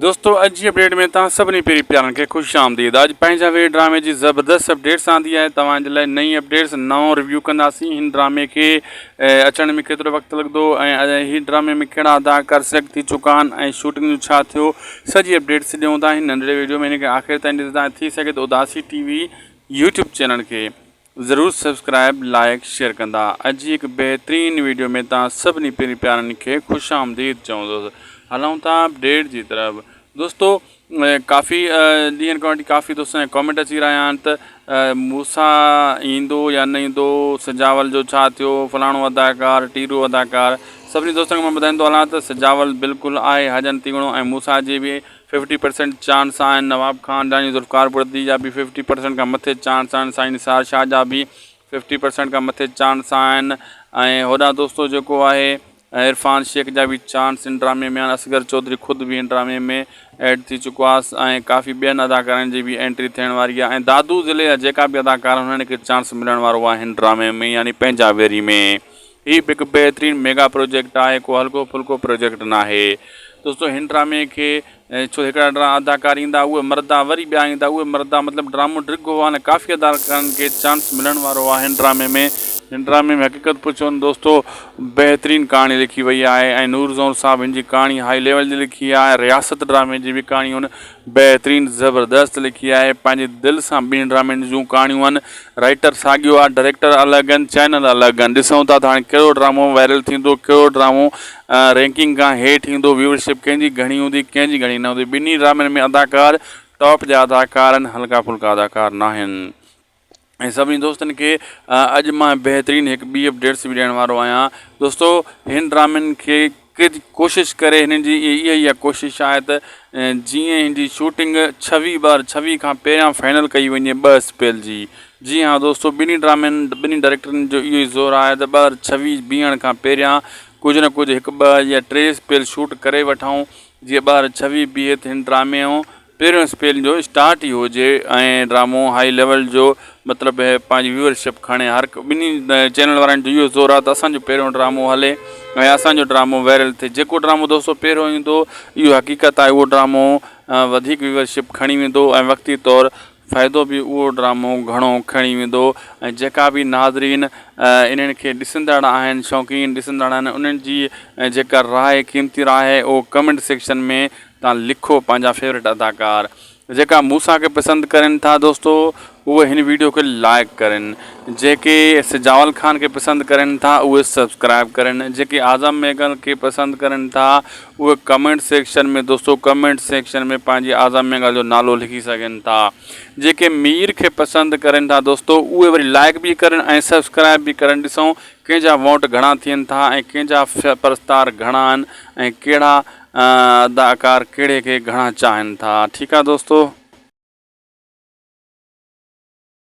دوستو اڄ جي اپڊيٽ ۾ توهان سڀني پيري پيارن کي خوش آمديد آج پنهنجا وير ڊرامي جي زبردست اپڊيٽس آندي آهي توهان جي لاء نئين اپڊيٽس نئون ريويو ڪنداسين هن ڊرامي کي اچڻ ۾ ڪيترو وقت لڳندو ۽ هي ڊرامي ۾ ڪهڙا اداڪار سليڪٽ ٿي چڪا آهن ۽ شوٽنگ جو ڇا ٿيو سڄي اپڊيٽس ڏيون ٿا هن ننڍڙي ويڊيو ۾ هن کي آخر تائين ڏسدا ٿي سگهي ته Udasi T V YouTube channel کي ضرور سبسڪرائب لائيڪ شيئر ڪندا اڄ جي هڪ بهترين ويڊيو ۾ توهان سڀني پيري پيارن کي خوش آمديد چوندس هلون ٿا اپڊيٽ جي طرف دوستو ڪافي ڏينهن کان وٺي ڪافي دوستن جا ڪامينٽ اچي رهيا آهن ته موسا ايندو يا نه ايندو سجاول جو ڇا ٿيو فلاڻو اداڪار ٽيرو اداڪار سڀني دوستن کي مان ٻڌائيندو هلان ته سجاول بلڪل آهي حجن تيوڻو ۽ موسا جي به ففٽي پرسنٽ چانس آهن نواب خان جا ۽ ذوالفقار بڙدي جا به ففٽي پرسنٽ کان مٿي چانس آهن سائين نثار شاهه جا به ففٽي پرسنٽ کان مٿي چانس آهن ۽ هوڏانهن دوستو جيڪو آهي عرفان شيخ جا به چانس ان ڊرامي ۾ آهن اصغر چوڌري خود به ان ڊرامي ۾ ايڊ ٿي چڪو آهي ۽ ڪافي ٻين اداڪارن جي به انٽري ٿيڻ واري آهي ۽ دادو ضلعي جا جيڪا به اداڪار هن کي چانس ملڻ وارو آهي هن ڊرامي ۾ يعني پنهنجا ويري ۾ هي به هڪ بهترين ميگا پروجيڪٽ آهي ڪو هلڪو ڦلڪو پروجيڪٽ ناهي دوستو هن ڊرامي کي ڇو هڪڙا ڊرا اداڪار ايندا اهي مردا وري ٻيا ايندا اهي مردا مطلب ڊرامو ڊگهو آهي نه ڪافي اداڪارن کي چانس ملڻ وارو آهي هن ڊرامي ۾ هن ڊرامي ۾ حقيقت پڇو نه دوستو بهترين ڪهاڻي لکي وئي آهي ۽ نور زئور صاحب هن جي ڪهاڻي هائي ليول جي لکي آهي رياست ڊرامي جي به ڪهاڻي هن بهترين زبردست لکي آهي پنهنجي دل سان ٻنهي ڊرامن جون ڪهاڻيون ان رائيٽر ساڳيو آ ڊريڪٽر الڳ ان چينل الڳ ان ڏسون ٿا ته هاڻي ڪهڙو ڊرامو وائرل ٿيندو ڪهڙو ڊرامو رينڪنگ کان هيٺ ايندو ويور شپ ڪنهن جي گهڻي هوندي ڪنهن جي گهڻي نه هوندي ٻنهي ڊرامن ۾ اداڪار ٽاپ جا اداڪار ان هلڪا ڦلڪا اداڪار ناهن. ۽ سڀني دوستن کي اڄ مان بهترين هڪ ٻي اپ ڊيٽس به ڏيڻ وارو آهيان دوستو هن ڊرامن کي ڪج ڪوشش ڪري هنن جي اها اها ڪوشش آهي ته جيئن هن جي شوٽنگ ڇويهه بار ڇويهه کان پهريان فائنل ڪئي وڃي ٻه اسپيل جي جي ها دوستو ٻنهي ڊرامن ٻنهي ڊائريڪٽرن جو اهو ئي زور آهي ته ٻه هزار ڇويهه بيهڻ کان پهريان ڪجهه نه ڪجهه هڪ ٻه يا ٽي اسپيل شوٽ ڪري وٺائون جيئن ٻه هزار ڇويهه بيهي ته هن ڊرامي جو پهريون اسپيل جو اسٽارٽ ئي هجي ۽ ڊرامو هائي ليول جو مطلب پنهنجي ويور شپ کڻي هر ٻنهي چينل وارن جو اهو زور آهي ته اسانجو پهريون ڊرامو هلي ۽ اسانجو ڊرامو وائرل ٿئي جيڪو ڊرامو دوستو پهريون ايندو اهو حقيقت آهي اهو ڊرامو وڌيڪ ويور شپ کڻي ويندو ۽ وقتي طور فائدو به اهو ڊرامو گهڻو کڻي ويندو ۽ جيڪا به ناظرين انهن کي ڏسندڙ آهن شوقين ڏسندڙ آهن انهن جي جيڪا راء قيمتي راء آهي اهو ڪمينٽ سيڪشن ۾ تان لکو پنهنجا فيوريٽ اداڪار جيڪا موسا کي پسند ڪرين ٿا دوستو اهي هن ويڊيو کي لائڪ ڪرين جيڪي سجاول خان کي پسند ڪرين ٿا اهي سبسڪرائب ڪرين جيڪي اعظم ميگل کي پسند ڪرين ٿا اهي ڪمينٽ سيڪشن ۾ دوستو ڪمينٽ سيڪشن ۾ پنهنجي اعظم مينگل جو نالو لکي سگهن ٿا جيڪي مير کي پسند ڪرين ٿا دوستو اهي وري لائيڪ به ڪرن ۽ سبسڪرائيب به ڪرن ڏسون ڪنهن جا ووٽ گهڻا ٿين ٿا ۽ ڪنهن جا پرستار گهڻا آهن ۽ ڪهڙا اداڪار ڪهڙي کي گهڻا چاهن ٿا ٺيڪ آهي دوستو